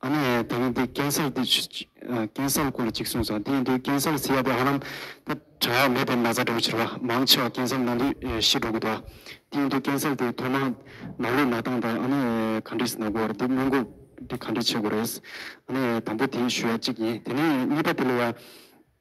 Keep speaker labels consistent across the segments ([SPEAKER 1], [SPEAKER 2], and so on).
[SPEAKER 1] ཨ་ནེ་ཨེ་ད་རུང་དེ་རྐྱེན་སེལ་དེ་རྐྱེན་སེལ་སྐོར་ལ་གཅིག་གསུངས་སོང་དེ་ཡིན་དུས་རྐྱེན་སེལ་ཟེར་ཡ་དེ་ཧ་ལམ་ད་དྲ་ཡ་མེད་པའི་ན་ཚ་འདྲ་བོ་ཆེ་རེད་བ་མང་ཆེ་བ་རྐྱེན་སེལ་ནང་དུས་ཤི་འགྲོ་གི་འདུག་བ་དེ་ཡིན་དུས་རྐྱེན་སེལ་དེ་ཐོག་མར་ནག་ལུས་ན་སྟངས་དང་ཨ་ནེ་ཨེ་ག་འདྲི་ཟེར་ན་དགོས་བར་དེ་སྔོན་འགོག་དེ་ག་འདྲི་བྱེད་དགོས་རེད་ཨ་ནེ་ཨེ་དང་པོ་དེ་ཞུ་ཡ་གཅིག་ཡིན་དེ་ནས་གཉིས་པ་དེ་ལ་ཡ།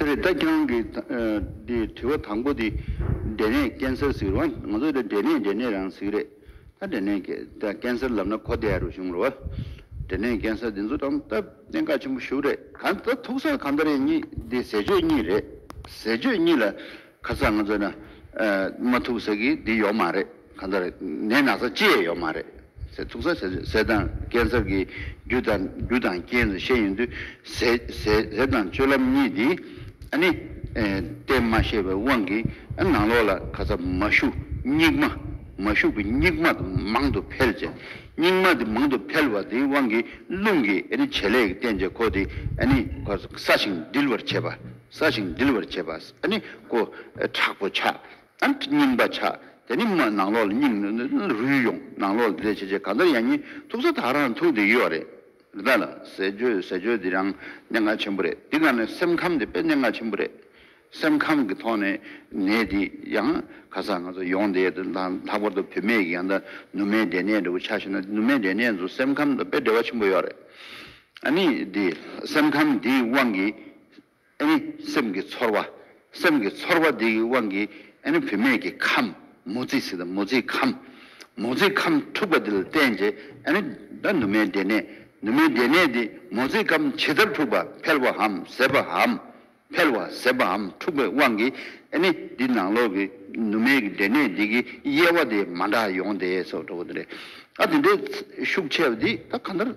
[SPEAKER 2] དེ་རེད་ད་ཁྱེད་རང་གི་དྲི་བ་དང་པོ་དེ་འབྲས་ནད་ཀན་སར་ཟིག་རོ་ང་ཚོ་འབྲས་ནད་འབྲས་ནད་རང་ཟིག་རེད་ད་འབྲས་ནད་ཀན་སར་ལབ་ན་གོ་བདེ་རུ་བྱུང་རོ་འབྲས་ནད་ཀན་སར་འདི་ཚོ་དང་ད་གནད་འགག་ཆེན་པོ་ཞུགས་རེད་གང་ད་ཐུག་སར་གང་ད་རེད་གཉིས་འདི་ཟས་སྤྱོད་གཉིས་རེད་ཟས་སྤྱོད་གཉིས་ལ་ཁ་སང་ང་ཚོ་ན་མ་ཐུག་ཟེར་གི་འདི་ཡོག་མ་རེད་གང་ལྟར་ནད་ན་ཚ་ཅི་ཡས་ཡོག་མ་རེད་ཟེར་ཐུག་ས་ཟས་དང་སྐལ་ཚབ་ཀྱི་རྒྱུ་དང་རྒྱུ་དང་རྐྱེན་ལ་ཤེས་ཡོན་དུས་ཟས་ཟས་དང་སྤྱོད་ལམ་གཉིས་འདི་ཨ་ནི་གཏན་མ་ཤེས་པའི་དབང་གིས་ཨ་ནང་ལོག་ལ་ཁ་ཚ་མ་ཞུགས་སྙིགས་མ་མ་ཞུགས་པའི་སྙིགས་མ་དུ་མང་དུ་འཕེལ་བྱས་སྙིགས་མ་དེ་མང་དུ་འཕེལ་བ་དེའི་དབང་གིས་རླུང་གིས་ཨ་ནི་བྱེད་ལས་ཀྱི་རྟེན་བྱེད་ཁོ་དེ་ཨ་ནི་ཁོ་ས་ཞིང་འདིལ་བར་བྱེད་པ། ས་ཞིང་འདུལ་བར་བྱེད་པ། ནི། ཀོ། དྲག་པོ་བྱ། སྙིམ་པ་བྱ། དེ་ནི། ནང་ལོགས་ལ་སྙིམ། རུལ་ཡོང། ནང་ལོགས་ལ་བདེ་བྱེད་བྱེད་གང་ལྟར་ཡང་ཉིད་ཐུག་ས་དག་རང་ཐུག་འདི་ཡོད་རེད། རེད་ད་ལ། ཟས་སྤྱོད་ཟས་སྤྱོད་འདི་རང་གནད་འགག་ཆེན་པོ་རེད་འདི་ག་ནས་སེམས་ཁམས་འདི་དཔེ་གནད་འགག་ཆེན་པོ་རེད། སེམས་ཁམས་ཀྱི་ཐོག་ནས་ནད་འདི་ཡང་ག་ས་ང་ཚོ་ཡོང་འདི་དང་ལྷག་པར་དུ་བུད་མེད་ཀྱི་ཡང་ད་ནུ་མའི་འབྲས་ནད་འདྲ་བོ་ཆགས་ཤེ་ན་ནུ་མའི་འབྲས་ནད་ཚོ་སེམས་ཁམས་དང་དཔེ་འབྲེལ་བ་ཆེན་པོ་ཡོད་རེད། ནི། འདི་སེམས་ཁམས་འདིའི་དབང་གིས། ཨེ་ནི་སེམས་ཀྱི་ཚོར་བ། སེམས་ཀྱི་ཚོར་བ་འདི་ཡི་དབང་གིས་ཨེ་ནི་བུད་མེད་ཀྱི་ཁམས་མོ་རྩིས་སི་དང་མོ་རྩིས་ཁམས། མོ་རྩིས་ཁམས་འཁྲུགས་པ་འདི་ལ་བརྟེན་ཅེས་ཨེ་ནི་ད་ནུ་མའི་སྡེ་སྣེ། ནུ་མའི་སྡེ་སྣེ་འདི་མོ་རྩིས་ཁམས་ཇི་ལྟར་འཁྲུགས་པ་འཕེལ་བའམ་ཟད་པའམ། འཕེལ་བ་ཟད་པའམ་འཁྲུགས་པའི་དབང་གིས་ཨེ་ནི་འདི་ནང་ལོགས་ཀྱི་ནུ་མའི་སྡེ་སྣེ་འདི་གི་དབྱེ་བ་དེ་མ་འདྲ་ཡོང་སྟེ་སོགས་འགྲོ་བ་འདི་རེད། ཨ་དེ་འདྲའི་ཤུགས་ཆེ་བ་འདི་ད་ག་འདྲ།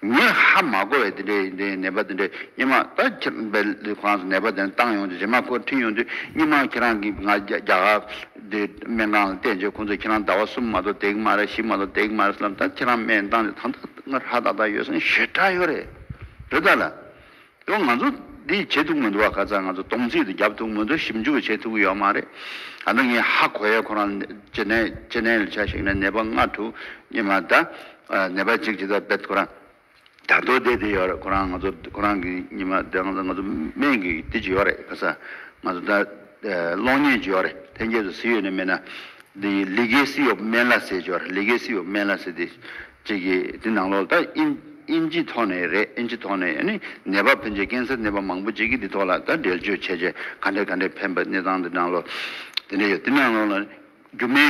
[SPEAKER 2] ངས་ཧ་མ་གོ་བའི་དེ་འདྲའི་ནད་པ་དེ་འདྲའི་སྙན་མ་ད་ཁྱེད་འབལ་གང་སོང་ནད་པ་དེ་བཏང་ཡོང་དུས་རེ་མ་ཁོ་འཁྲིད་ཡོང་དུས་སྙན་མ་ཁྱེད་རང་གིས་ང་རྒྱ་གར་དེ་སྨན་ཁང་ལ་བལྟས་རྗེས་ཁོང་ཚོས་ཁྱེད་རང་ཟླ་བ་གསུམ་མ་གཏོགས་དེག་མ་རེད་བཞི་མ་གཏོགས་དེག་མ་རེད་ཟེར་ལབ་ད་ཁྱེད་རང་སྨན་བཏང་རྗེས་ད་ད་ང་ར་ད་ད་ཡོད་སོང་ཞེ་དྲག་ཡོད་རེད་རེད་ད་ལ་ཡང་ང་ཚོ་འདི་བྱེད་ཐུབ་མི་འདུག་བ་ཁ་ཚ་ང་ཚོ་སྟོང་ཚིགས་དེ་བརྒྱབ་ཐུབ་མི་འདུག་ཞིབ་འཇུག་བྱེད་ཐུབ་ཀྱི་ཡོད་མ་རེད། ད་ནི་ངས་ཧ་གོ་ཡས་ཁོ་རང་ཅི་ནས་ཅི་ནས་ལ་ཆ་ཞིག་ནས་ནད་པ་ལྔ་དྲུག་ཉི་མ་ད་ནད་པ་གཅིག་ཇི་ལྟར་བེད་ཁོ་རང་དར་མདོར་བསྡད་དེ་ཡོད་རེད་ཁོ་རང་ང་ཚོ་ཁོ་རང་གི་ཉི་མ་ད་ང་ཚོ་སྨན་གི་དེ་ཅི་ཡོད་རེད་ཁ་ཚ་ང་ཚོ་ད། གློག་བརྙན་སྦྱོར། ཐེན་ཀྱེ་སུ་སི་ཡོད་ནི་མེད་ན། དེ་ལི་གེ་སི་ཡོབ་མན་ལ་སེ་སྦྱོར་ལི་གེ་སི་ཡོབ་མན་ལ་སེ་དེ། ཅེས་ཀྱི་དེ་ནང་ལོགས་ད་ཨིན་ཨིན་ཇི་ཐོག་ནས་རེད་ཨིན་ཇི་ཐོག་ནས་ནི་ནད་པ་ཕན་ཆད་ཀན་སར་ནད་པ་མང་པོ་ཅིག་གི་དེ་ཐོག་ལ་ད་འགྲེལ་བརྗོད་བྱས་བྱས་ག་འདྲས་ག་འདྲས་ཕན་པ་གནས་སྟངས་དེ་ནང་ལོགས་དེ་འདྲས་ཡོད་དེ་ནང་ལོགས་ལ། སྒྱུ་མའི་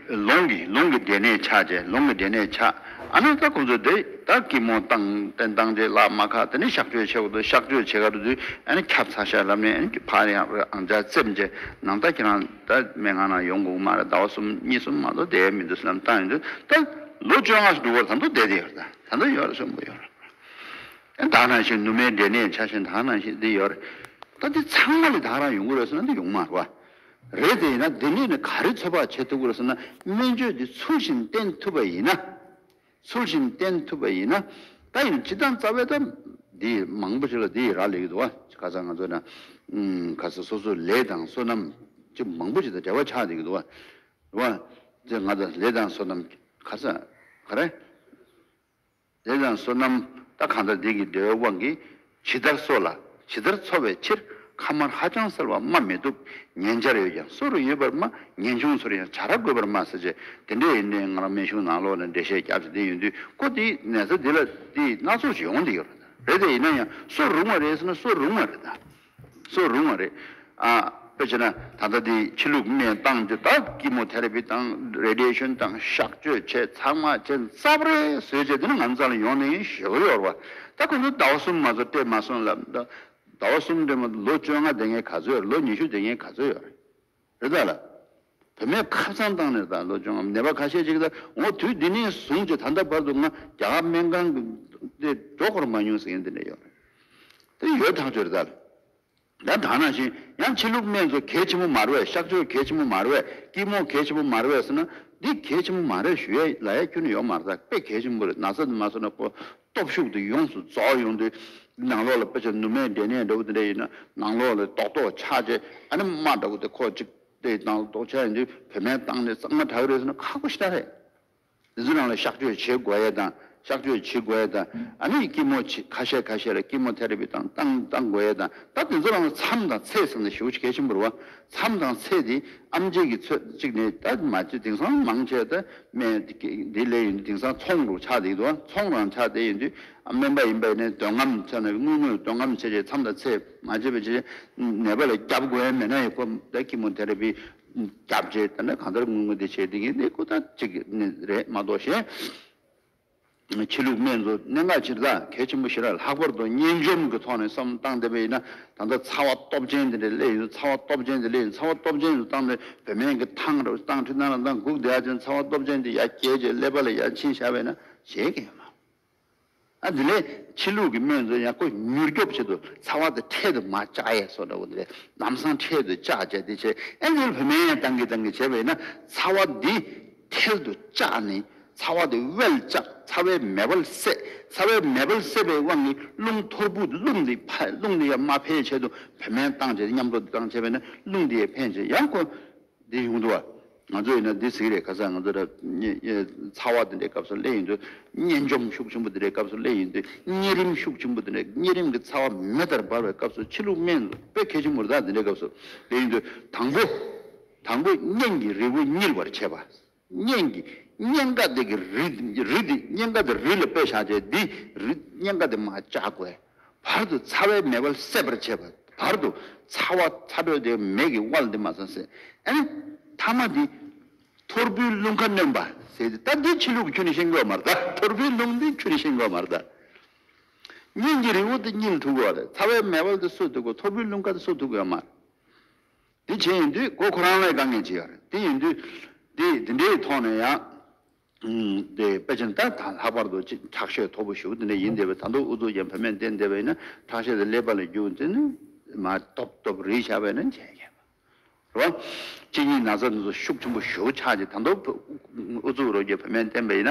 [SPEAKER 2] ལུང་གིས་ལུང་གི་སྡེ་སྣོད་ཆགས་རྗེས་ལུང་གི་སྡེ་སྣོད་ཆགས་ཨ་ནང་ཀ་ཀུན་རྫོབ་དེ་དག་གི་མོ་རྟ་སྟན་བཏང་རྗེས་བླ་མ་ཁ་དེ་ནས་གཤགས་བཅོས་བྱེད་དགོས་གཤགས་བཅོས་བྱེད་ག་དུས་ཨ་ནི་ཁྱབ་ཚ་ཤ་རབ་ནས་ཨ་ནི་ཀྱི་ཕ་རེ་ཨང་ཅག་བཙེམ་རྗེས་ནང་རྟ་ཁྱེད་རང་ད་མན་ངག་ནང་ཡོང་དགོས་ཀྱི་མ་རེད་ཟླ་བ་གསུམ་གཉིས་གསུམ་མ་གཏོགས་བསྡད་ཡ་མི་འདུག་སེམས་གཏམ་ཡིན་དུས་ད་ལོ་བཅོ་ལྔ་འགྲུབ་བར་ད་དུ་བསྡད་དེ་ཡོད་རེད་ད་དུ་ཡོད་རེད་གསོན་པོ་ཡོད་རེད་ཨ་བདག་ནང་བཞིན་ནུ་མའི་སྡེ་སྣོད་ཆགས་བཞིན་བདག་ནང་བཞིན་འདི་ཡོད་རེད་ད་འདི་ཚང་མ་ལས་བདག་རང་ཡོང་གི་རེད་ཟེར་ན་འདི་ཡོང་མ་རུ་ཨ་རེད་དེ་ཡིན་ན་འདི་ནས་ནི་ག་རེ་ཚོད་དཔག་བྱེད་ཐུབ་གི་རེད་ཟེར་ན་སྨན་བཅོས་འདི་ཚུལ་བཞིན་བསྟེན་ཐུབ་པ་ཡིན་ན། ཚུལ་བཞིན་བསྟེན་ཐུབ་པ་ཡིན་ན། ད་ཡིན་སྤྱིར་བཏང་རྩ་བའི་ད་འདི་མང་པོ་ཞིག་ལ་འདི་ཡི་རག་ལས་ཀྱི་འདུག་ག་ག་ཚ་ང་ཚོ་ན་ག་ཚ་སོ་སོའི་ལས་དང་སོ་ནམ་ཅི་མང་པོ་ཞིག་དང་འབྲེལ་བ་ཆགས་འདུག་གི་འདུག་ག་རེད་བ། ད་ང་ཚོ་ལས་དང་སོ་ནམ་ག་ཚ་ག་རེད། ལས་དང་བསོད་ནམས་ལྟ་གང་དག་བདེ་གི་བདེ་བའི་དབང་གིས་ཇི་ལྟར་གསོ་ལ་ཇི་ལྟར་འཚོ་བའི་ཕྱིར་ཁ་དམར་ཧ་ཅང་གསལ་བར་སྨྲ་མི་བཏུབ་ཉན་བྱར་ཡོད་ཀྱང་གསོ་རུ་ཡོད་པར་སྨྲ་ངེས་འབྱུང་ཚོར་ཡང་བྱ་ར་དགོས་པར་སྨྲ་ཟེར་བྱས་དེ་འདྲའི་ཡོན་ཏན་ང་རང་སྨན་གཞུང་ནང་ལོག་ནས་འགྲེལ་བཤད་རྒྱག་བྱེད་དེ་ཡོད་དུས་ཀོ་དེའི་ནད་ཚ་འདི་ལ་དེ་སྣ་ཚོགས་ཀྱིས་ཡོང་དེ་ཡོད་རེད་དེ་ཡིན་ན་ཡང་གསོ་རུང་བ་རེད་ཟེར་ན་གསོ་རུང་བ་རེད། སུ་རུང་བ་རེད། དཔེར་བྱས་ན་ད་ལྟ་དེ་ཕྱི་ལུགས་གནས་སྟངས་དེ་དག་ཀི་མོ་ཐེ་ར་པི་དང་རེ་ཏི་ཡེ་ཤུན་དང་གཤགས་བཅོས་བྱས་ཚང་མ་བྱས་ཙབ་རེ་བཟོས་བྱས་དེ་ནི་ང་ཚང་ལ་ཡོང་ནའི་ཞོ་གི་ཡོར་བ་ད་ཁོ་ཚོ་ཟླ་བ་གསུམ་མ་ཚོ་སྤྲད་མ་སོང་ལ། ཟླ་བ་གསུམ་སྤྲད་མ་ལོ་བཅོ་ལྔ་དེ་ངས་ག་ཚོད་ཡོར་ལོ་ཉི་ཤུ་དེ་ངས་ག་ཚོད་ཡོར། བོད་དག་ལ། བོད་མའི་ཁབ་ཚང་བཏང་ནས་དང་ལོ་ཆུང་ནད་པ་ཁ་ཤས་ཅིག་ལ་ངོ་དུས་འདི་ནས་བཟུང་སྟེ་ད་ལྟ་བར་དུ་ང་རྒྱ་གར་སྨན་ཁང་གི་སྟེ་འགྲོ་འཁོར་མ་མྱོང་ཟེར་མཁན་དེ་འདྲ་ཡོད་རེད། དེ་ཡོད་ཐག་ཆོད་རེད་དཱ། ཡང་དག་ན་བཞིན་ཡང་ཕྱི་ལུགས་སྨན་ཚོ་གལ་ཆེན་པོ་མ་རེད་བས་ཤག་ཆོས་གལ་ཆེན་པོ་མ་རེད་བས་སྐྱིད་མོ་གལ་ཆེན་པོ་མ་རེད་བས་ཟེར་ན་འདི་གལ་ཆེན་པོ་མ་རེད་ཞུ་ཡས་ལ་ཡས་ཁྱོད་ནས་ཡོག་མ་རེད་ད་དཔེ་གལ་ཆེན་པོ་རེད་ན་ཟ་དེ་མ་ཟོ་ན་ཁོ་སྟོབས་ཤུགས་དེ་ཡོངས་སུ་རྫོགས་ཡོང་དུས། ནང་ལོགས་ལ་དཔེ་ཆ་ནུ་མའི་འབྲས་ནད་འདྲ་བོ་དེ་འདྲ་ཡོད་ན་ནང་ལོགས་ལ་རྡོག་རྡོག་ཆག་ཆེ་ཨ་ནི་རྨ་འདྲ་བོ་དེ་ཁོག་ཅིག་དེ་དང་ལ་རྡོག་ཆག་ཡིན་དུས་བོད་སྨན་བཏང་ནས་གཙང་མ་དྲག་གི་རེད་ཟེར་ན་ཁག་པོ་ཤ་རེད། དེ་ཚོ་རང་ལ་གཤག་བཅོས་བྱེད་དགོས་ཡས་དང་གཤག་བཅོས་བྱེད་དགོས་ཡས་དང་ཨ་ནི་སྐྱི་མོ་ཁ་ཤས་ཁ་ཤས་ལ་སྐྱི་མོ་ཐེ་རེ་པི་བཏང་བཏང་དགོས་ཡས་དང་ད་དེ་ཚོ་རང་ལ་མཚམས་དང་ཚད་ཟིན་ན་ཞེ་བོ་གལ་ཆེན་པོ་རེད་བ། མཚམས་དང་ཚེས་དེ་ཨམ་རྗེས་ཀྱི་ཚོད་གཅིག་ནས་ད་མ་ཅི་དེང་སང་མང་ཆེ་ད་སྨན་དེ་ལས་ཡིན་དུས་དེང་སང་ཚོང་རུ་ཆགས་དེ་འདུག་ཚོང་རང་ཆགས་དེ་ཡིན་དུས་སྨན་པ་ཡིན་པ་ནས་འདོན་རྔམ་ཆགས་ན་དངུལ་དངོས་འདོན་རྔམ་བྱེད་ཆེད་མཚམས་དང་ཚེས་མ་ཅི་བྱེད་ཆེད་ནད་པ་ལ་རྒྱབ་དགོས་ཡ་མེད་ན་ཡིན་ཁོ་ད་ཁྱི་མོ་དེ་རེད་པི་རྒྱབ་བྱེད་ད་ནི་གང་ལྟར་དངུལ་དངོས་དེ་བྱེད་དེ་ཡིན་དེ་ཁོ་ད་ཅིག་ནི་རེད་མ་གཏོགས་གཞན། ཕྱི་ལུགས་སྨན་གཙོ་གནད་འགག་སྤྱིར་བདག་གལ་ཆེན་པོ་བཞི་ར་ལྷག་པར་དུ་གཉན་འཇོམས་ཀྱི་ཐོག་ནས་བསམ་བློ་བཏང་བསྡད་པས་ཡིན་ན་ད་ལྟ་ཚ་བ་སྟོབས་ཆེན་དེ་འདྲའི་སླེ་ཡིན་ཚ་བ་སྟོབས་ཆེན་དེ་སླེ་ཡིན་ཚ་བ་སྟོབས་ཆེན་དུ་བཏང་ནས་བོད་སྨན་གྱི་ཐང་ར་ཐང་ཁྲི་ཐང་ར་ཐང་གུག་བརྡལ་ཅན་ཚ་བ་སྟོབས་ཆེན་དེ་ཡ་བསྐྱལ་ཅེས་སླེ་པ་ལ་ཡ་ཕྱིན་བཞག་པས་ན་བྱེད་མཁན་མང། ཨ་དེ་ལས་ཕྱི་ལུགས་ཀྱི་སྨན་གཙོ་ཡང་ཁོ་མྱུར་སྐྱོབ་ཆེད་དུ་ཚ་བ་དེ་འཕྲལ་དུ་མ་བཅག་ཡས་སོ་འདྲ་བོ་དེ་རེད་ལམ་སང་འཕྲལ་དུ་བཅག་བྱས་དེ་བྱས་ཨེ་འདི་ལ་བོད་སྨན་ཡང་བཏང་གི་བཏང་གི་བྱས་པས་ན་ཚ་བ་འདི་ཐལ་དུ་བཅག་ནས་ཚ་བ་དེ་དབལ་བཅག་ཚ་བའི་མེ་དབལ་བསད། ཚ་བའི་མེ་དབལ་བསད་པའི་དབང་གིས་རླུང་ཐོར་བུ་རླུང་འདི་ཕ་རླུང་འདི་ཡང་མ་འཕེལ་བྱེད་དུ་བུད་སྨན་བཏང་བྱས་ཏེ་མཉམ་གཏོར་འདི་བཏང་བྱས་པས་ན་རླུང་འདི་ཡང་འཕེལ་བྱེད་ཡང་ཁོ་འདི་ཡོང་འགྲོ་བ། ང་ཚོ་ཡིན་ན་འདི་ཟིག་རེད་ག་ས་ང་ཚོ་ཚ་བ་འདི་འདྲའི་སྐབས་སུ་ཀླད་ཡིན་དུས་གཉན་འཇོམས་ཤུགས་ཆེན་པོ་འདི་འདྲའི་སྐབས་སུ་ཀླད་ཡིན་དུས་གཉན་རིམས་ཤུགས་ཆེན་པོ་འདི་འདྲའི་གཉན་རིམས་ཀྱི་ཚ་བ་མེ་ལྟར་འབར་བའི་སྐབས་སུ་ཕྱི་ལུགས་སྨན་དཔེ་མཁས་ཆེན་པོ་རི་དྭགས་འདི་འདྲའི་སྐབས་སུ་དེ་ཡིན་དུས་དང་པོ། དང་པོ་གཉན་གྱི་རིལ་བུ་བསྙིལ་བར་བྱས་པ། གཉན་གྱི་གཉན་ཀ་དེ་གི་རིལ་དེ་གཉན་ཀ་དེ་རུས་ལ་སྤོས་བྱ་བྱས་འདི་རུས་གཉན་ཀ་དེ་མ་བཅའ་གོས་བར་དུ་ཚ་བའི་མེ་དབལ་སད་པར་བྱས་པ་བར་དུ་ཚ་བ་ཚ་དྲོད་དེ་མེ་གི་དབལ་འདི་མ་ཚ་བསད་ཨེ། ཐ་མ་དེ། ཐོར་བུའི་རླུང་ཁ་གནོན་པ་ཟེར་ཏེ་ད་འདི་ཕྱི་ལུགས་ཁྱོད་ནི་ཤེས་དགོས་མ་གདའ་ཐོར་བུའི་རླུང་འདི་ཁྱོད་ནི་ཤེས་དགོས་མ་གདའ། གཉན་གྱི་རིལ་བུ་དེ་བསྙིལ་ཐུབ་གོ། ཚ་བའི་མེ་དབལ་དེ་གསོད་ཐུབ་གོ་ཐོར་བུའི་རླུང་ཁ་དེ་གསོད་ཐུབ་གོ་ཡང་མ། དེ་བྱས་ཡིན་དུས་ཁོ་ཁོ་རང་ལ་དཀའ་ངལ་ཅི་ཡོད་རེད་དེ་ཡིན་དུས། དེ་དེ་འདྲའི་ཐོག་ནས་ཡང། དེ་པེ་ཅིན་ད་ད་ལྷག་པར་དུ་ཅིག་ཁྲག་ཤེད་མཐོ་པོ་ཞུགས་དེ་འདྲ་ཡིན་བསྡད་པའི་ད་དུང་ཨུ་ཚུགས་ཀྱང་བུད་མེད་འདི་འདྲ་བས་ན་ཁྲག་ཤེད་དེ་ཀླད་པ་ལ་རྒྱུག་འདི་ནི་མ་སྟོབས་སྟོབས་རེད་བྱ་བས་ན་མཇལ་ཁས་པ་རེད། གཅིག་གཉིས་ན་ཚ་འདི་ཚོ་ཤུགས་ཆེན་པོ་ཞུགས་ཆགས་ཀྱི་ད་དུང་ཨུ་ཚུགས་རོ་རྒྱུག་བུད་མེད་འདི་འདྲ་བས་ན་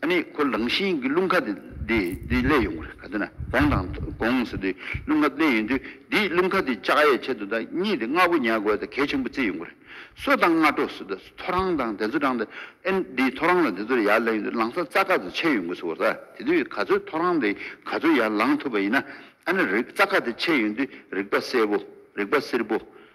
[SPEAKER 2] ཨ་ནི་ཁོ་རང་བཞིན་གྱི་རླུང་ཁ་དེ་བསླད་ཡོང་གི་རེད་ག་དེ་ན་དགོངས་དང་དགོངས་ཟེར་དུས་རླུང་ཁ་བསླད་ཡོང་དུས་དེའི་རླུང་ཁ་དེ་ལྕགས་ཡས་ཆེད་དུ་དང་གཉིས་དེ་རྔ་བོ་ཉལ་དགོས་དང་གལ་ཆེན་པོ་རྩིས་ཡོང་གི་རེད་སོ་དང་རྔ་དྲོ་ཟེར་དུས་ཐོ་རངས་དང་དེ་ཚོ་དྲངས་ཏེ་ཨ་དེའི་ཐོ་རངས་ལ་དེ་ཚོར་ཡར་བསླད་ཡོང་དུས་ལང་ཚ་རྩ་ཁ་དེ་ཆད་ཡོང་གི་ཟེར་བ་ད་དེ་དུས་ག་ཚོད་ཐོ་རངས་དེ་ག་ཚོད་ཡར་ལང་ཐུབ་པ་ཡིན་ན་ཨ་ནི་རྩ་ཁ་དེ་ཆད་ཡོང་དུས་རིག་པ་གསལ་པོ་རིག་པ་སེར་པོ།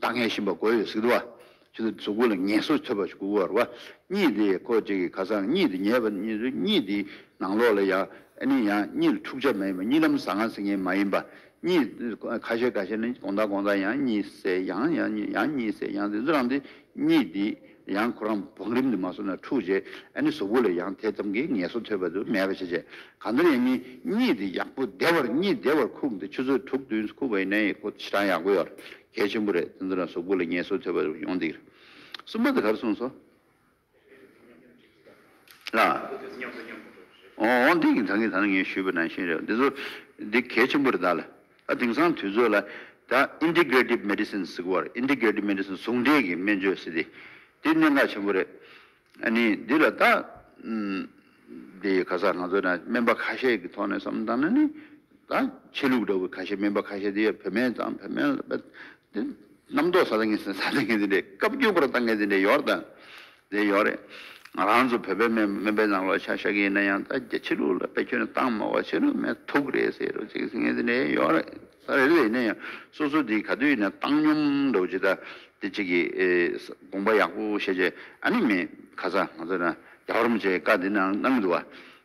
[SPEAKER 2] བདག་ངལ་ཞིམ་པ་གོ་ཡོད་ཟིག་དུ་བ། ཕྱི་དུ་གཟུགས་སྐུ་ལ་ངལ་གསོ་ཐོད་པ་ཞིག་གུག་བར་བ། གཉིད་དེ་ཁོ་གཅིག་གི་ཁ་སང་གཉིད་དེ་ཉལ་བ་ནི་རེད། གཉིད་དེའི་ནང་ལོགས་ལ་ཡང་ནི་ཡང་གཉིད་ལ་འཁྲུག་ཆ་མ་ཡིན་པ་གཉིད་ལམ་ཟ་ང་ཟིག་ངེས་མ་ཡིན་པ། གཉིད་ཁ་ཤས་ཁ་ཤས་ནི་གོང་ད་གོང་ད་ཡང་གཉིད་སད་ཡང་ཡང་གཉིད་སད་ཡང་ཟིག་རང་དེ་གཉིད་དེའི་ཡང་ཁོ་རང་བང་རིམ་དུ་མ་སོང་ན་འཁྲུགས་རྗེས་ཨ་ནེ་ཟོ་བོ་ལས་ཡང་དེ་ཙམ་གྱིས་ངལ་གསོ་ཐོས་པ་དུ་མས་པ་བྱས་རྗེས་གང་ལྟར་ཡང་ངས་གཉིད་དེ་ཡག་པོ་བདེ་བར་གཉིད་བདེ་བར་ཁུག་འདི་ཆུ་ཚོད་དྲུག་བདུན་སུ་ཁུག་པ་ཡིན་ན་ཡང་ཁོ་ཆེ་གྲང་ཡག་པོ་ཡོད་གལ་ཆེན་པོ་རེད་དེ་ཚོ་ན་ཟོ་བོ་ལས་ངལ་གསོ་ཐོས་པ་དུ་ཡོང་འདིར་གསུམ་པ་དེ་གར་སོང་སོང། ཨ། འོ་འོ་འོ་འདི་ངས་ད་ངས་ད་ནི་ངས་ཞུས་པ་ནང་བཞིན་རེད་འདི་ཚོ་འདི་གལ་ཆེན་པོ་རེད་ད་ལ་དེང་སང་དུས་ཚོད་ལ་ད Integrative Medicine ཟེར་བར Integrative Medicine ཟུང་འབྲེལ་གྱི་སྨན་བཅོས་ཟེར་ཏེ་དེ་གནད་འགག་ཆེན་པོ་རེད། ནི་འདི་ལ་ད་དེ་ག་སར་ང་ཚོ་ན་སྨན་པ་ཁ་ཤས་ཀྱི་ཐོག་ནས་བསམ་བློ་བཏང་ན་ནི་ད་ཆོས་ལུགས་འདྲ་བོ་ཁ་ཤས་སྨན་པ་ཁ་ཤས་དེ་བོད་སྨན་དང་བོད་སྨན་ལ་རྣམ་རྟོག་ཟ་ད་ངས་ཟ་ད་ངས་དེ་འདྲས་བཀའ་བརྒྱུད་པར་ད་ངས་དེ་འདྲས་ཡོར་དང་རེད་ཡོད་རེད། ང་རང་ཚོ་བོད་པའི་སྨན་པའི་ནང་ལོག་ཆ་ཤ་གི་ཡིན་ན་ཡང་ད་རྒྱ་ཕྱི་ལུགས་ལ་དཔེ་ཁྱོད་ནས་གཏང་མ་བ་ཕྱི་ལུགས་སྨན་ཐུག་རེད་ཟེར་རོ་ཅིག་ཟེར་ངས་རེད་ཡོད་རེད་ད་རེད་ཡིན་ན་ཡང་སོ་སོ་དེ་ག་དུས་ཡིན་ན་གཏང་སྙོམ་འདུག་ཅེ་ད་དེ་ཅིག་གི་དགོངས་པ་ཡག་པོ་བཤད་ཆེད་ཨ་ནི་མེད་ག་ས་ང་ཚོ་ན་རྒྱ་གར་མོ་ཆེ་བཀའ་འདི་ནང་གནང་གི་འདུག་བ་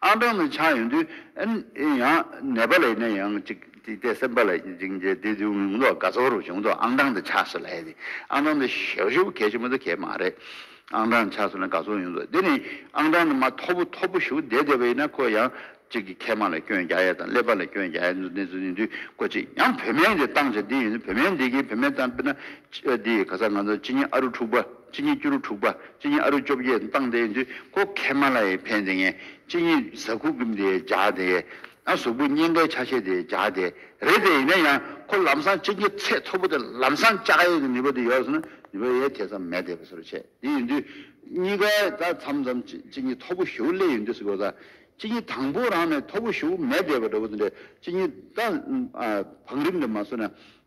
[SPEAKER 2] ཨང་གྲངས་ནི་ཆགས་ཡོང་དུས། ཡང་ནེ་པ་ལའི་ནས་ཡང་གཅིག་གཅིག་དེ་སེམས་པ་ལ་འཇིགས་མཇལ་དེ་དུས་མི་འདུག་དགའ་ཚོར་བྱུང་འདུག་ཨང་གྲངས་དེ་ཆགས་སུ་ལས་དེ་ཨང་གྲངས་དེ་ཞིབ་ཞིབ་གལ་ཆེ་མི་འདུག་གལ་མ་རེད། ཨང་གྲངས་ཆགས་སུ་ལས་དགའ་ཚོར་ཡོང་འདུག་དེ་ནི་ཨང་གྲངས་དེ་མ་མཐོ་པོ་མཐོ་པོ་ཞུགས་བསྡད་བསྡད་པ་ཡིན་ན་ཁོ་ཡང་གཅིག་གིས་མཁལ་མ་ལ་སྐྱོན་རྒྱག་ཡ་དང་ཀླད་པ་ལ་སྐྱོན་རྒྱག་ཡ་འདུག་གནས་ཚུལ་ནི་དུས་ཁོ་གཅིག་ཡང་བོད་སྨན་དེ་བཏང་བྱ་འདི་ཡིན་འདུག་བོད་སྨན་འདི་གིས་བོད་སྨན་བཏང་དཔེར་ན། འདི་ཡི་ག་ས་ང་ཚོ་ཕྱི་ཉིན་ཨ་རུ་འཁྲུག་པ། སྤྱི་གཉིས་བཅུ་རུ་དྲུག་པ་སྤྱི་གཉིས་ཨ་རུ་བཅོ་བརྒྱད་བཏང་སྟེ་འདི་ཀོ་གྷལ་མ་ལ་ཡི་བྷན་དེ་ངས་སྤྱི་གཉིས་བཟའ་ཁུ་གུམ་དེ་བྱ་དེ་ཨ་གཟུགས་པོ་སྙན་ཁའི་ཆ་ཤས་དེ་བྱ་དེ་རེད་དེ་ཡིན་ན་ཡང་ཁོ་ལམ་སང་སྤྱི་གཉིས་ཚད་མཐོ་པོ་དེ་ལམ་སང་བཅའ་ཡས་ཀྱི་ནུས་པ་དེ་ཡོད་སོང་ན་ནུས་པ་ཡས་དེ་ཙམ་མེད་དེ་བ་སོ་རུ་བྱས་དེ་ཡིན་དུས་གཉིས་ཀ་ད་ཚམ་ཚམ་སྤྱི་གཉིས་མཐོ་པོ་ཞུ་ལེ་ཡིན་དུས་སུ་གོ་ད་སྤྱི་གཉིས་དང་པོ་རང་ནས་མཐོ་པོ་ཞུ་མེད་དེ་བ་འདྲ་བོ་དེ་འདྲ་སྤྱི་གཉིས་ད་བང་རིམ་དེ་མ་སོན་ན།